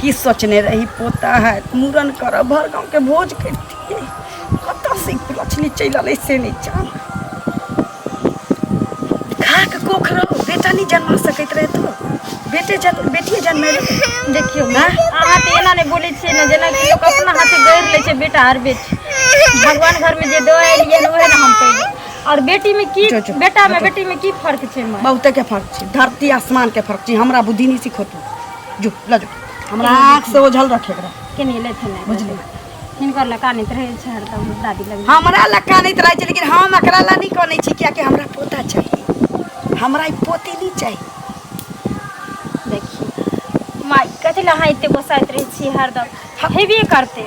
की सोचने रही पोता है मूड़न करब भर गाँवके भोज करितियै कतऽसँ लछली चलि अलै से नहि जान खाक कोख रहो बेटा नहि जन्मा सकैत रहे तो बेटे जन्म बेटिए जन्मे देखियौ ने अहाँ तऽ एना नहि बोलै छियै ने जेनाकि लोक अपना हाथे गढ़ि लै छै बेटा आर बेटी भगवान घरमे जे दऽ एलियै ओहे ने हम पहिले और बेटी में की बेटा में बेटी में की फर्क छै बहुत के फर्क छै धरती आसमान के फर्क छै हमरा बुद्धि नहीं सिखो जो ला जो हमरा आँख से ओझल रखे के रहे। के नहीं लेते नहीं बुझली इनकर लका नहीं रहे छै हरदम दादी लग हमरा ला कानैत रहै छै लेकिन हम एकरा ला नहि कानै छी कियाकि हमरा पोता चाही हमरा ई पोती नहि चाही देखिए माई कथी ला अहाँ एते गोसाइत रहे छी हरदम हेबे करते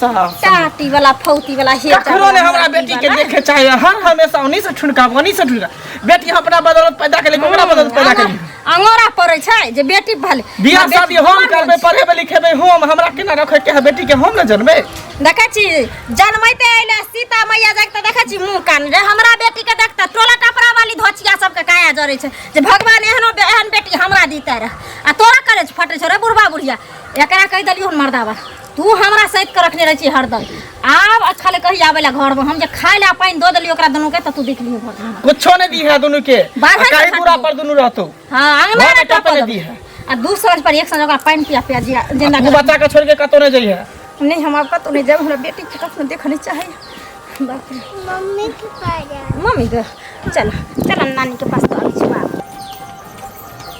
साहब चाटी वाला फौती वाला हे कखनो ने हमरा बेटी के देखे चाहे हर हमेशा उन्हीं से ठुनका उन्हीं से ठुनका बेटी अपना बदौलत पैदा केले ओकरा बदौलत पैदा केले अंगोरा पड़े छै जे बेटी भले बियाह शादी हम करबे पढ़ेबे लिखेबे हम हमरा केना रखे के है बेटी के हम न जनबे देखै छी जनमैते आइले सीता मैया जाके त देखै छी मुंह कान रे हमरा बेटी के देखता टोला टपरा वाली धोचिया सब के काया जरे छै जे भगवान एहनो बे- एहन बेटी हमरा दीते रहे आ तोरा करे छै फटे छै रे बुढ़वा बुढ़िया एकरा कहि देलियो मर्दावा तू हमरा सैत के रखने रहे छी हरदम आब अच्छा ले कही आवे ला घर में हम जे खाए ला पानी दो देली ओकरा दोनों के त तू देख लियो घर में कुछो नहीं दी है दोनों के बाहर आ काहे का दूरा खाती? पर दोनों रहतो हां आंगन घर में में टप टपने दी है। आ दू साँझ पर एक साँझ ओकरा पानी पिया पिया जिया जिंदा तू कर बच्चा के छोड़ के कतो नहीं जाइए नहीं हम आपका तो नहीं जाए हमरा बेटी के कखनो देखने चाहिए बाप रे मम्मी के पास जाए मम्मी के चल चल नानी के पास तो आबै छी बाप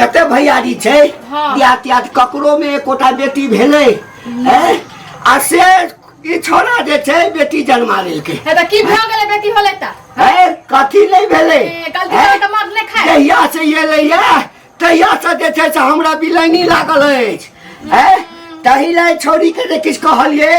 कते भैयारी छै हाँ। बियाह त्याह ककरो में एकोटा बेटी भेलै हैं? आ से ई छोरा जे छै बेटी जन्मा लेलकै हे तऽ की भऽ गेलै बेटी होलै तऽ है कथी नहीं भेले ए, गलती हैं? से तऽ मर नहि खाए। जहिया से ये लैया तहिया से जे छै से हमरा बिलैनी लागल अछि है तही ले छोड़ी के जे किछु कहलियै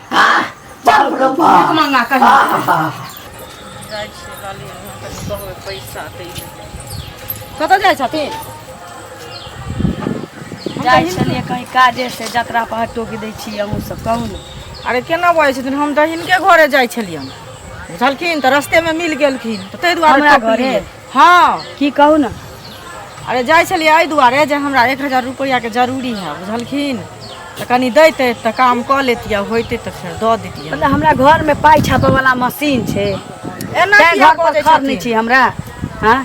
कतऽ जाइ छथिन जाइ छलियै कहीं काजे से जतरा पर टोकि दै छी अहूँ सब कहू ने अरे केना बजै छथिन हम तऽ हिनके घरे जाइ छलियनि बुझलखिन तऽ रस्तेमे मिल गेलखिन तऽ ताहि दुआरे हमरा टोकलियै। घरे हँ की कहू ने अरे जाइ छलियै एहि दुआरे जे हमरा एक हजार रुपैआके जरूरी है बुझलखिन तऽ कनि दैते तऽ काम कऽ लेतियै होइते तऽ फेर दऽ देतियै मतलब हमरा घरमे पाइ छापयवला मशीन छै एना तैं किया घर पर बजै खर नहि छथिन? छी हमरा हँ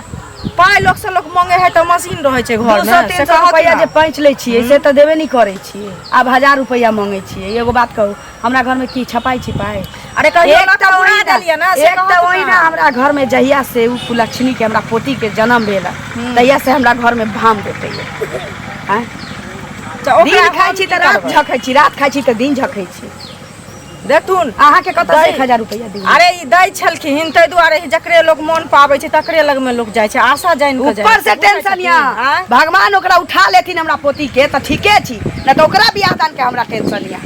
पाइ लोक से लोक मंगे है तऽ मशीन रहै छै दू घर सए तीन सए रुपैआ जे पैंच लै छियै से तऽ देबे नहि करै छियै आब हजार रुपैआ मङ्गै छियै एगो बात कहू हमरा घर में की छपाई छिपाई अरे कहियो एक ना तो तो उड़ा ओहिना- देलियै ना, से एक कहत तो ना। ओहिना हमरा घर में जहिया से उ कुलक्षणी के हमरा पोती के जन्म भेल है, तहिया से हमरा घर में भाम देते हैं तऽ ओकरा दिन खाइ हम छी की तऽ रात करबै? झखै छी रात खाइ छी तऽ दिन झखै छी देखथुन अहाँके कतऽ दै। एक हजार रुपैआ दियौ अरे ई दै छलखिन ताहि दुआरे ई जकरे लोग मोन पाबै छै तकरे लग में लोग जाइ छै आशा जानि कऽ जाइ ऊपर से छै। बुझै टेंशन छथिन, या आँय? भगवान ओकरा उठा लेथिन हमरा पोती के तऽ ठीके छी नहि तऽ ओकरा बियाह दान के हमरा टेंशन या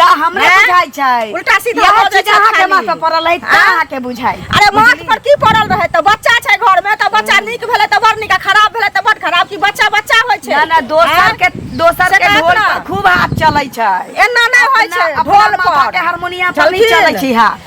का हमरा हैं? बुझाइ छै उल्टा सीधा यह हो जाइ चीज छै अहाँ के खाली। माथा पड़ल है हाँ? अहाँ के बुझाइ अरे माथ पर की पड़ल रहे त बच्चा छै घर में त बच्चा नीक भेलै त बड़ नीक आ खराब भेलै त बड़ खराब कि बच्चा बच्चा होय छै ना ना दोसर हैं? के दोसर से के कहत ढोल ना। पर खूब हाथ चलै छै एना नहि होय अपना- छै अपना ढोल मामा पर के हारमोनिया पर चलखिन। नहीं चलै छी हाथ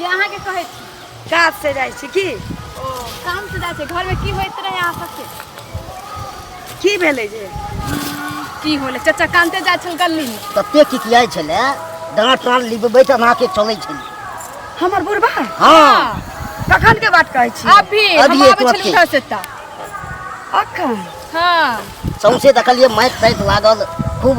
ये अहाँ के कहै छी काज से जाइ छी की ओ काम से जाइ छै घर में की होइत रहे अहाँ सबके की भेलै जे की होले चाचा कानते जाइ छल गली में तते किकियाइ छलै डाँट टाँट लिबबैत अनाके चलै छलै हमर बुढ़बा हँ कखन के बात कहै छी अभी हम अभी आबै तुरते। छलहुँ घर से तऽ अखन हाँ सौंसे देखलियै माटि ताटि लागल खूब